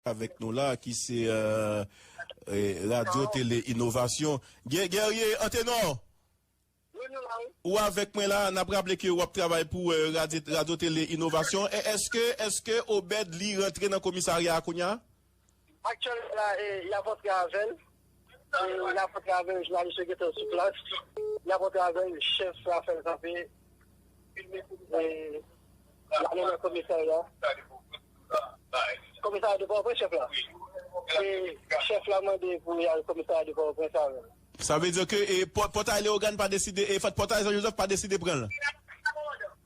Avèk nou la ki se Radyo Tele Inovasyon. Guerrier Anténor! Wi, nou la wi. Ou avèk mwen la, n ap raple ke ou ap travay pou Radyo Tele Inovasyon. Eske, eske Obed li rantre nan komisarya a kounya? Aktyèlman la, y ap antre avè l. Nap antrave jounalis yo gentan sou plas nap antrave chèf la fèl kanpe ale nan komisarya komisarya de pòwopren chèf la e chèf la mande pou li al komisarya de pòwopren avèl. Sa vle di ke pòtay leogane pa deside e pòtay jan jozèf pa deside pranl.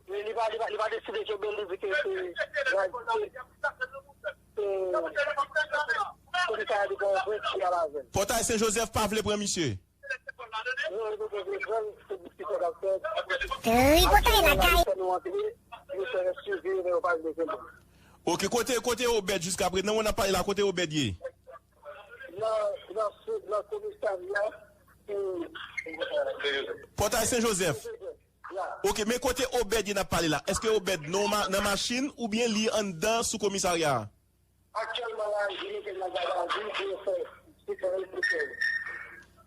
Li pa deside kenbel li di ke se. Pòtay Sen Jozèf pa vle pran misye. Ok kote kote obed jiska prezan wan ap pale la kote obed ye. Pòtay Sen Jozèf. Ok men kote obed ye nap pale la eske obed non nan machin ou byen li anndan sou komisarya a. Aktyèlman la yo metel nan gad a vi pou yo fè si fè yo pou fèl.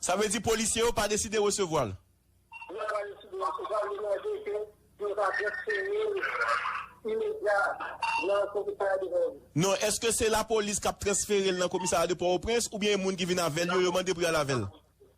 Sa vle di polisye yo pa deside resevwal? Yo pa deside resevwal yo mande ke pou yo ta transferel imedya nan komisarya de port au prince. Non eske se lapolis kap transferel nan komisarya de port au prince ou byen e moun ki vin avèl yo yo mande pou yal avèl?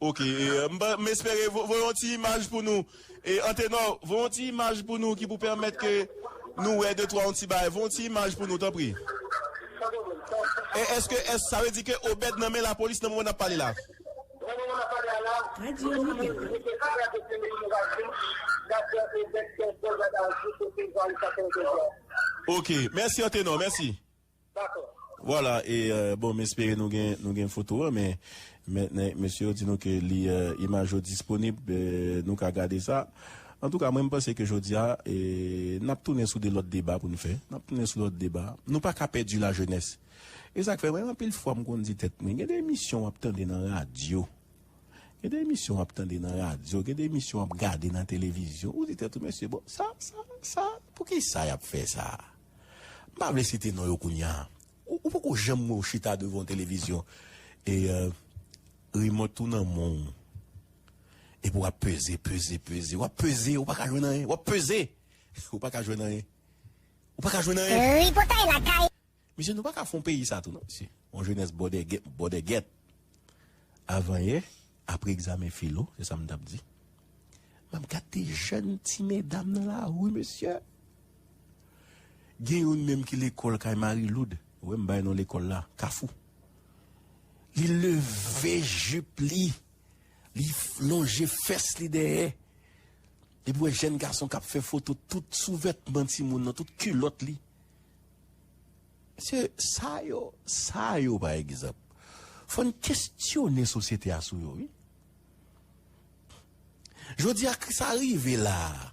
Ok m espere voye yon ti imaj pou nou Antenò voye yon ti imaj pou nou ki pou pèmèt ke nou wè de twa yon ti bagay voye yon ti imaj pou nou tanpri Eske sa vle di ke Obed nan men lapolis nan moman n ap pale la? Radio Libero. Ok mèsi Antenò mèsi. Dakò. Vwala e bon m espere nou gen nou gen foto an men men mesye yo di nou ke li imaj yo disponib nou ka gade sa antouka mwen m panse ke jodi a e n ap tounen sou de lòt deba pou n fè n ap tounen sou lòt deba nou pa ka pèdi lajenès e sa k fè mwen anpil fwa m konn di tèt mwen gen de emisyon w ap tande nan radyo gen de emisyon w ap tande nan radyo gen de emisyon w ap gade nan televizyon ou di tèt ou mesye bon sa sa sa poukisa y ap fè sa. M pa vle site non yo kounya. Ou poko janm wè w chita devan yon televizyon e remote ou nan men w. Epi w ap peze, peze, peze. W ap peze, ou pa ka jwenn anyen. W ap peze, ou pa ka jwenn anyen. Ou pa ka jwenn anyen. Tripotay lakay. Mesye nou pa ka fon peyi sa tou non mesye. On jenès bòdègèt. Avanyè, apre egzamen filo, se sa m t ap di. M ap gad de jèn ti medam nan lari, mesye! Gen youn menm ki lekòl kay Mari Loud, wè m bay non lekòl la, Kafou. Li leve jip li, li lonje fès li dèyè, epi w wè jèn gason k ap fè foto tout souvètman timoun nan, tout kilòt li. Mesye, sa yo, sa yo pa egzanp. Fò n kestyone sosyete a sou yo wi. Jodi a ke sa rive la a,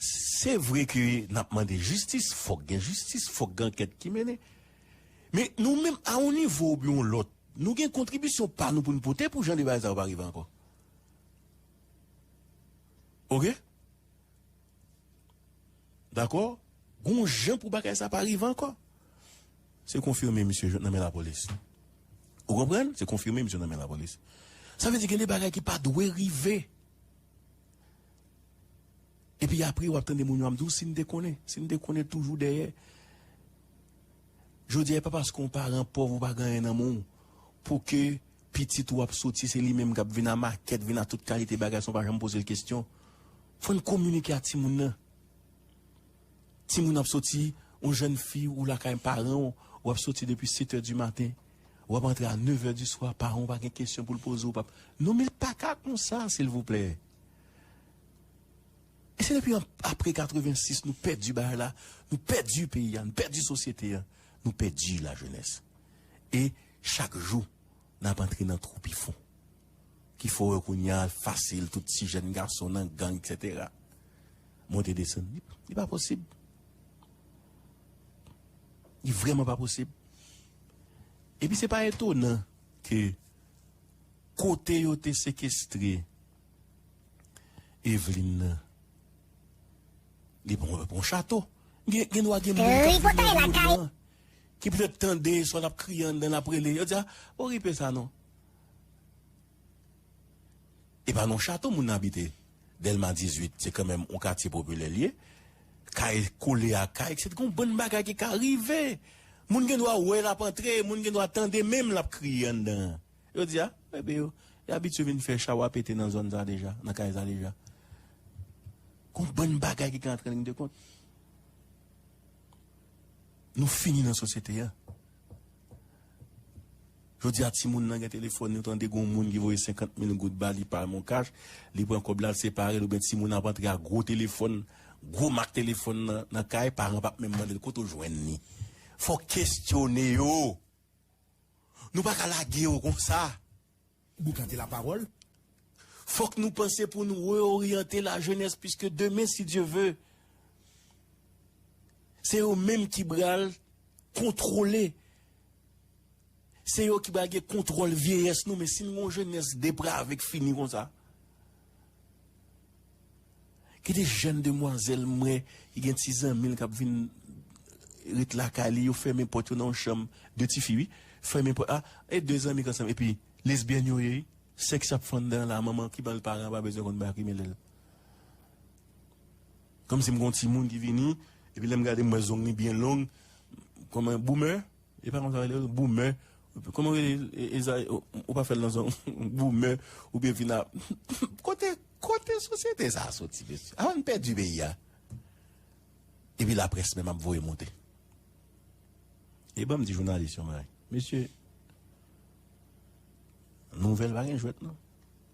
se vre ke n ap mande jistis, fòk gen jistis, fòk gen ankèt ki mennen. Men nou menm a yon nivo oubyen yon lòt, nou gen kontribisyon pa nou pou n pote pou jan de bagay sa yo pa rive ankò. Ok? Dakò? Gon jan pou bagay sa pa rive ankò. Se konfime misye jwenn nan men lapolis. Ou konprann? Se konfime misye nan men lapolis. Sa vle di gen de bagay ki pa dwe rive. Epi apre w ap tande moun yo ap di w si n te konnen, si n te konnen toujou dèyè. Jodi a e pa paske yon paran pòv ou pa gen anyen nan men w pou ke Pitit ou ap soti se li menm kap vin a makèt vin a tout kalite bagay san w pa janm poze l kesyon. Fò n kominike a timoun nan. Timoun ap soti yon jèn fi ou lakay paran w ou ap soti depi setè di maten ou ap antre a nevè di swa paran w pa gen kesyon pou l poze w pa non men l pa ka konsa silvouplè. E se depi apre 86 nou pèdi bagay la nou pèdi peyi a nou pèdi sosyete a nou pèdi lajenès e Chak jou nap antre nan twou pi fon. Ki fè w wè kounya fasil tout ti jèn gason nan gang etc. Monte desann li pa posib. Li vrèman pa posib. Epi se pa etonan ke kote yo te sekestre Evelyne nan li pran yon chato. Gen dwa gen moun kap vini nan yon moun. ki pètèt tande swa l ap kriye anndan l ap rele, yo di a, o ripe sa non. E pa nan chato moun nan abite. Dèlma 18, se kanmenm yon katye popilè l ye. Kay kole ak kay, se t gon bann bagay ki ka rive. Moun gen dwa wè l ap antre, moun gen dwa tande menm l ap kriye anndan an. Yo di a, enben yo abitye vin fè chawa pete nan zòn sa deja, nan kay sa deja. Gon bann bagay ki ka antre an liy de kont. Nou fini nan sosyete an. Jodi a timoun lan gen telefòn yo tande gon moun ki voye 50 mil goud ba li pa mon cash, li pran kòb la l separe l oubyen timoun lan ap antre ak gwo telefòn, gwo mak telefòn nan kay, paran pap menm mande l kote w jwenn li. Fòk kestyone yo. Nou pa ka lage yo konsa. Pou gade la pawòl, fòk nou panse pou nou reoryante la jenès piske demen si Dye ve, se yo menm ki bral kontwole, se yo ki bral gen kontwòl vyeyès nou men si n gon jenès deprave k fini konsa. Gen de jèn demwazèl m wè ki gen ti zanmi l k ap vin ret lakay li, yo fèmen pòt yo nan yon chanm, de ti fi wi, fèmen pòt a, e de zanmi k ansanm epi lesbyèn yo ye wi, sèks ap fè anndan an la, manman ki ban l paran an pa bezwen konn bagay ki mele l. Kòmsi m gen yon timoun ki vini, epi lè m gade m wè zong li byen long, kòman, boumè? E pa konsa yo rele l boumè kòman yo rele ezayi ou pa fèl nan zòn boumè ou byen vin ap kote kote sosyete sa soti mesye avann pèdi peyi a epi laprès menm ap voye moute e banm di jounalis yon bagay mesye nouvèl pa gen jwèt non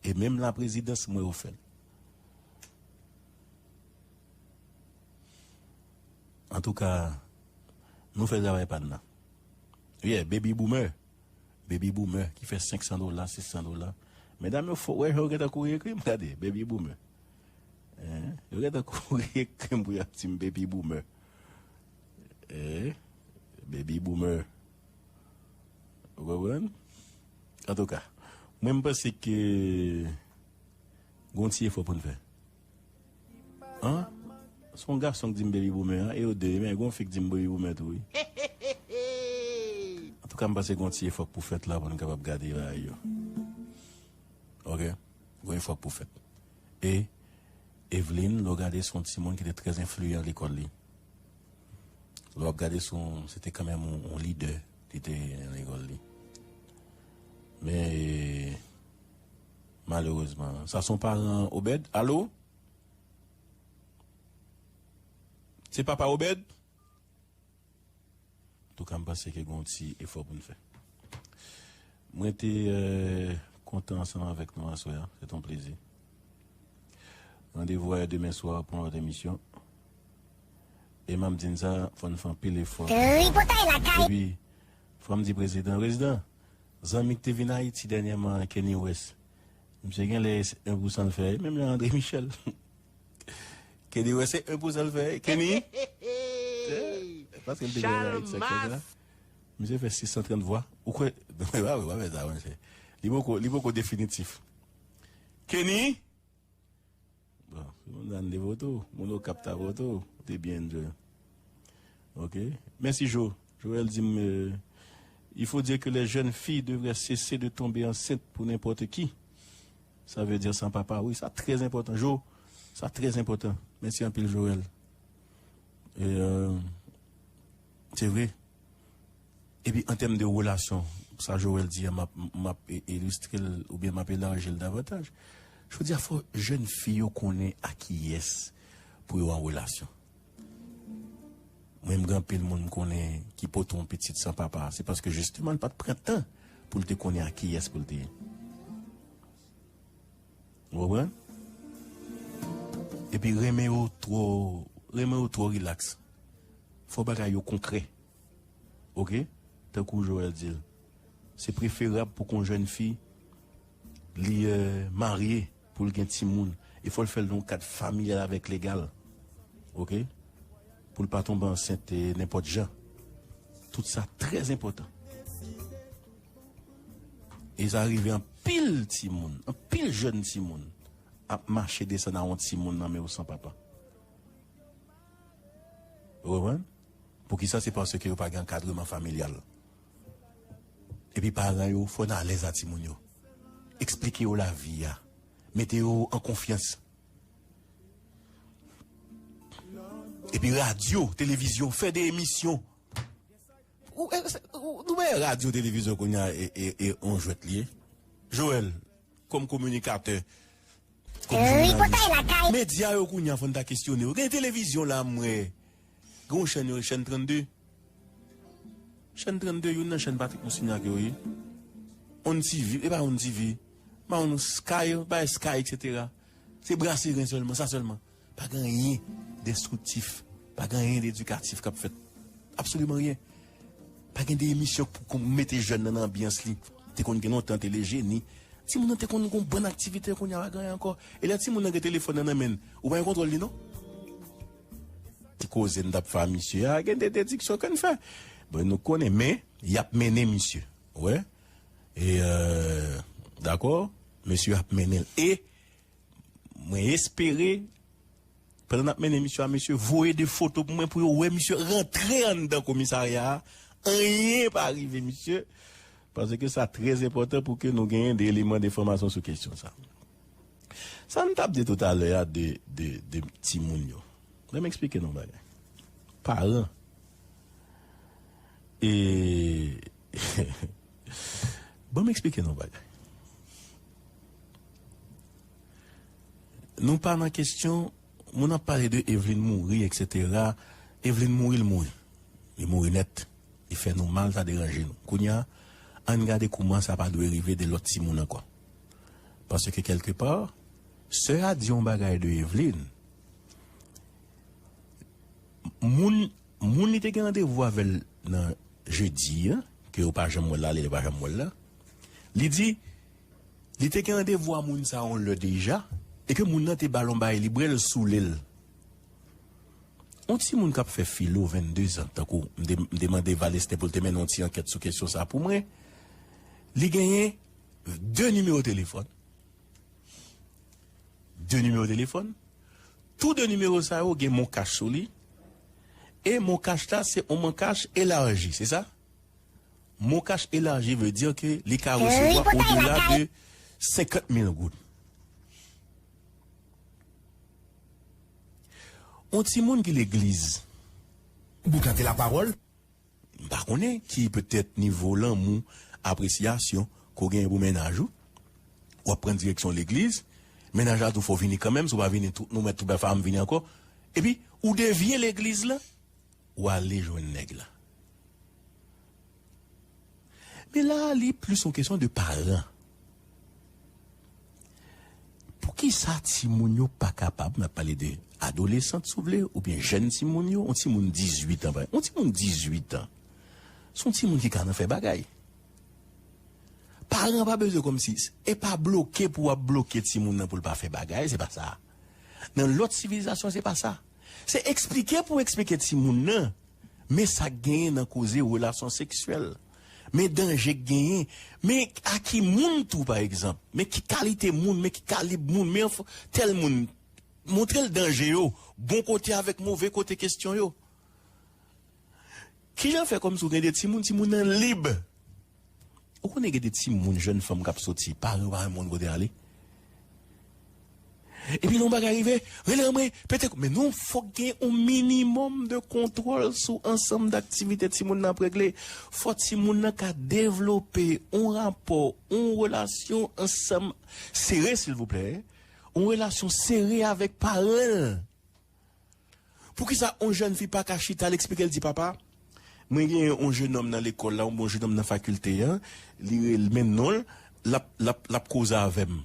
e menm laprezidans m wè yo fèl. Antouka Nou fè travay pa n nan Yeah baby boomer Baby boomer ki fè 500 dola 600 dola Medam yo fò wè jan yo gentan kouri ekri m Gade baby boomer Eh yo gentan kouri ekri m pou y ap di m baby boomer Eh baby boomer Ou konprann Antouka Mwen m panse ke Gon ti efò pou n fè. An se yon gason k dim baby boomer an e yo 2 ye men gen yon fi k dim baby boomer tou wi. Antouka m panse gen yon ti efò k pou fèt la pou n kapab gade bagay yo ok gen yon efò k pou fèt e Evelyne lè w gade se yon timoun ki te trè enfliyan lekòl li lè w ap gade se yon se te kanmenm yon lidè li te nan lekòl li men Malerezman. Sa son paran Obed? Alo? Se papa Obed? Antouka m panse ke gen yon ti efò pou n fè. Mwen te kontan ansanm avèk nou aswè a. Se te yon plezi. Randevou a demen swa pou yon lòt emisyon. E m ap di n sa, fò n fè anpil efò. Tripotay lakay! Epi, fò m di prezidan, prezidan! Zanmi ki te vin Ayiti dènyèman an Kenny West misye genlè se 1 pou sanl fè menm jan Andre Michel Kenny West se 1 pou sanl fè Kenny paskel te genyen Ayiti sak fèt la misye fè 630 vwa ou kwè non epa vre pa fè sa monchè li poko li poko definitif Kenny. Bon, nan de vo tou, moun o kap ta vo tou, ou te byen enjoy. Ok, mèsi Jo. Joel di m, Il faut dire que les jeunes filles devraient cesser de tomber enceintes pour n'importe qui, ça veut dire sans papa, wi sa trè enpòtan Jo, sa trè enpòtan, mèsi anpil Joel. Se vre. Epi an tèm de relasyon, sa Joel di a m ap m ap ilistre l oubyen m ap elarji l davantaj. Jodi a fò jèn fi yo konnen a kiyès pou yo an relasyon. Mwen m gen anpil moun m konnen ki pote yon pitit san papa se paske jisteman l pa t pran tan pou l te konnen a kiyès pou l te. Ou konprann? Epi renmen yo twò, renmen yo twò rilaks. Fò bagay yo konkrè. Ok? Tankou Joel di l, se preferab pou kon jèn fi li marye pou l gen timoun e fò l fè l nan yon kad familyal avèk legal. Ok? Pou l pa tonbe ansent nenpòt jan. Tout sa trè enpòtan. E sa rive anpil timoun, anpil jèn timoun ap mache desann a yon timoun nan men yo san papa. Ou konprann? Poukisa? Se paske yo pa gen ankadreman familyal. Epi paran yo fò nan alèz a timoun yo. Eksplike yo lavi a. Mete yo an konfyans. Epi radyo, televizyon, fè de emisyon. Nou wè radyo televizyon kounye a e on jwèt li ye Joel kòm kominikatè kòm jounalis medya yo kounye a fò n ta kesyone yo gen televizyon la m wè gen yon chèn yo rele chèn 32 chèn 32 youn nan chèn Patrick Moussigny ak yo ye on TV e pa on TV m pa konn sky bagay sky etc se brase ren sèlman sa sèlman. Pa gen anyen denstriktif, pa gen anyen dedikatif k ap fèt. Absoliman anyen. Pa gen de emisyon k pou mete jèn nan nan anbyans li. Te konn gen lontan telejeni. Timoun nan te konn gen yon bann aktivite kounye a pa gen anyen ankò. E lè timoun nan gen telefòn nan nan men l, ou pa gen kontwòl li non. Ti koze n t ap fè a misye a, gen de dediksyon ke n fè. Bon nou konnen men y ap mennen misye. Ou wè? E dakò, mesye yo ap mennen l. E. Mwen espere pandan nap mennen misyon a mesye voye 2 foto pou mwen pou yo wè misye rantre anndan komisarya a anyen pa rive misye paske sa trè enpòtan pou ke nou genyen 2 eleman de fòmasyon sou kesyon sa. Sa m tap di tout alè a de de timoun yo lèm eksplike nou yon bagay paran e. Banm eksplike nou yon bagay. Nou pa nan kestyon, moun ap pale de Evlin mouri etc. Evlin mouri l mouri. Li mouri nèt. Li fè nou mal, sa deranje nou. Kounya, ann gade kouman sa pa dwe rive de lòt timoun ankò. Paske kèlke pa, sè a di yon bagay de Evlin, moun. Moun li te gen randevou avè l nan jedi an, ke yo pa janm wè l ale, yo pa janm wè l la, li di li te gen randevou a moun sa yon lè deja e ke moun nan te ba l yon bagay li bwè l soule l. Yon timoun k ap fè filo, 22 zan, tankou m te m te mande Valestin pou l te mennen yon ti ankèt sou kesyon sa pou mwen, li genyen 2 nimewo telefòn 2 nimewo telefòn, tou 2 nimewo sa yo gen MonCash sou li, e MonCash la se on MonCash elaji, se sa? MonCash elaji vle di ke li ka resevwa odela de 50 mil goud. On timoun ki legliz. Boukante lapawòl. M pa konnen ki petèt nivo lanmou, apresyasyon ke w genyen pou mennaj ou. W ap pran direksyon legliz. Mennaj la di w fò w vini kanmenm, si w pa vini tou nou mèt tou bè fè a m vini ankò. Epi ou devye legliz la, ou ale jwenn nèg la. Men la a li plis yon kesyon de paran. Poukisa timoun yo pa kapab, mwen ap pale de adolesant si w vle oubyen jèn timoun yo, yon timoun 18 an pa yon timoun 18 an se yon timoun ki ka nan fè bagay. Paran an pa bezwen kòmsi, e pa bloke pou w ap bloke timoun nan pou l pa fè bagay, se pa sa. Nan lòt sivilizasyon se pa sa. Se eksplike pou eksplike timoun nan men sa k genyen nan koze relasyon seksyèl, men danje k genyen, men a ki moun tou pa egzanp, men ki kalite moun, men ki kalib moun, men anfn tèl moun, montre l danje yo, bon kote avèk move kote kestyon yo. Kijan fè kòmsi ou gen 2 timoun, timoun nan lib. Ou konnen gen 2 timoun jèn fanm kap soti, paran yo pa menm konn kote yal ale. Epi lè yon bagay rive, rele anmwe, pete kou men non fòk gen yon minimòm de kontwòl sou ansanm daktivite timoun nan ap regle. Fò timoun nan ka devlope yon rapò, yon relasyon ansanm sere silvouplè, yon relasyon sere avèk paran l. Poukisa on jèn fi pa ka chita l eksplike l di papa, mwen gen on jenòm nan lekòl la, on bon jenòm nan fakilte an, li rele men non l, l ap, l ap, l ap koze avè m.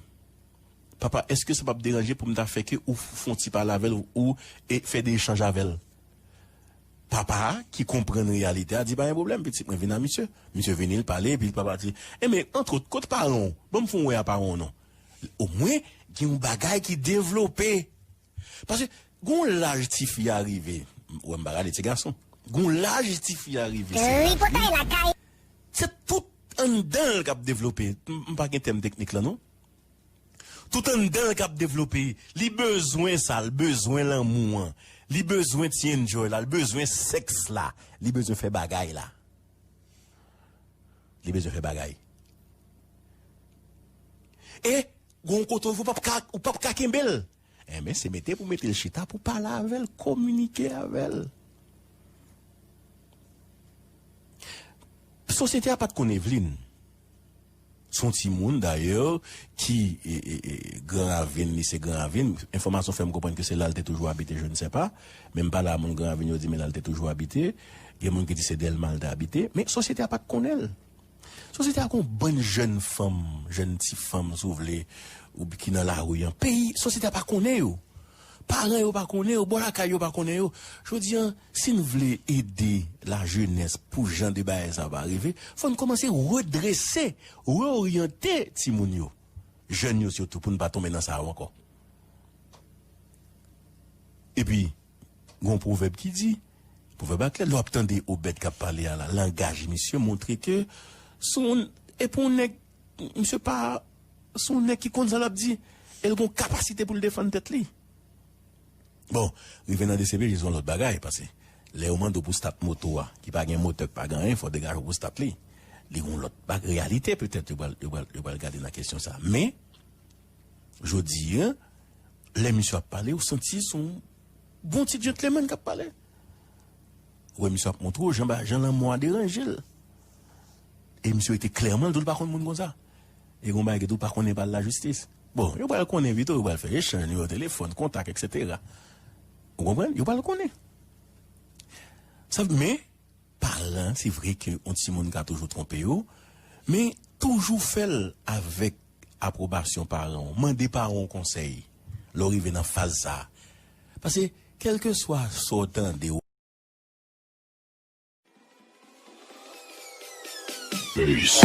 Papa, èske sa p ap deranje pou m ta fè ke ou fon ti pale avè l ou e fè de echanj avè l? Papa a, ki konprann reyalite a, di pa gen pwoblèm pitit mwen, vin a misye. Misye vini l pale epi papa di, e men antwot kot paran w? Ban m fon wè a paran w non. Omwen gen on bagay ki devlope. Paske gon laj tifi a rive, m wè m pa gade ti gason, gon laj tifi a rive se laj li, se tout anndan l k ap devlope, m pa gen tèm teknik lan non, tout anndan l k ap devlope, li bezwen sa, l bezwen lanmou an, li bezwen ti enjoy la, l bezwen sèks la, li bezwen fè bagay la, li bezwen fè bagay. E. Gon kote ou pap ka ou pap ka kenbel enben se mete pou metel chita pou pale avèl kominike avèl sosyete a pat konn Evelyne son ti moun dayè ki gran ravin li se gran ravin enfòmasyon fèm konprann ke se lal te toujou abite je ne sais pas menm pale a moun gran ravin yo di men lal te toujou abite gen moun ki di se Delma li te abite men sosyete a pat konnenl. Sosyete a gon bann jèn fanm, jèn ti fanm si w vle, ou ki nan lari an. Peyi, sosyete a pa konnen yo. Paran yo pa konnen yo, bò lakay yo pa konnen yo. Jodi an, si n vle ede lajenès pou jan de bagay sa pa rive, fò n kòmanse redrese, reoryante timoun yo, jèn yo sitou pou n pa tonbe nan sa yo ankò. Epi. Gon pwovèb ki di, pwovèb la klè lè w ap tande Obed k ap pale a la, langaj misye montre ke se yon e pou yon nèg misye pa se yon nèg ki konn sa l ap di e l gon kapasite pou l defann tèt li. Bon, rive nan dcpj se yon lòt bagay pase lè yo mande w pou stat moto a ki pa gen motè, ki pa gen anyen fò w degaje w pou stat li. Li gon lòt ba reyalite petèt yo pral yo pral yo pral gade nan kesyon sa men. Jodi a, lè misye ap pale, ou santi se yon bon ti djentlemenn k ap pale. Ou wè misye ap montre w jan ba, jan lanmò a deranje l. E misye rete klèman l di w li pa konn moun konsa. E gen yon bagay ki di w pa konnen pale lajistis. Bon, yo pral konnen pito, yo pral fè echanj nimewo telefòn, kontak eksetera. Ou konprann? Yo pral konnen. Sa vle, men, paran, se vre ke yon timoun ka toujou twonpe yo, men toujou fè l avèk. apwobasyon paran w. Mande paran w konsèy lè w rive nan faz sa a. Pase, kèlkeswa sa w tande, w. Peace.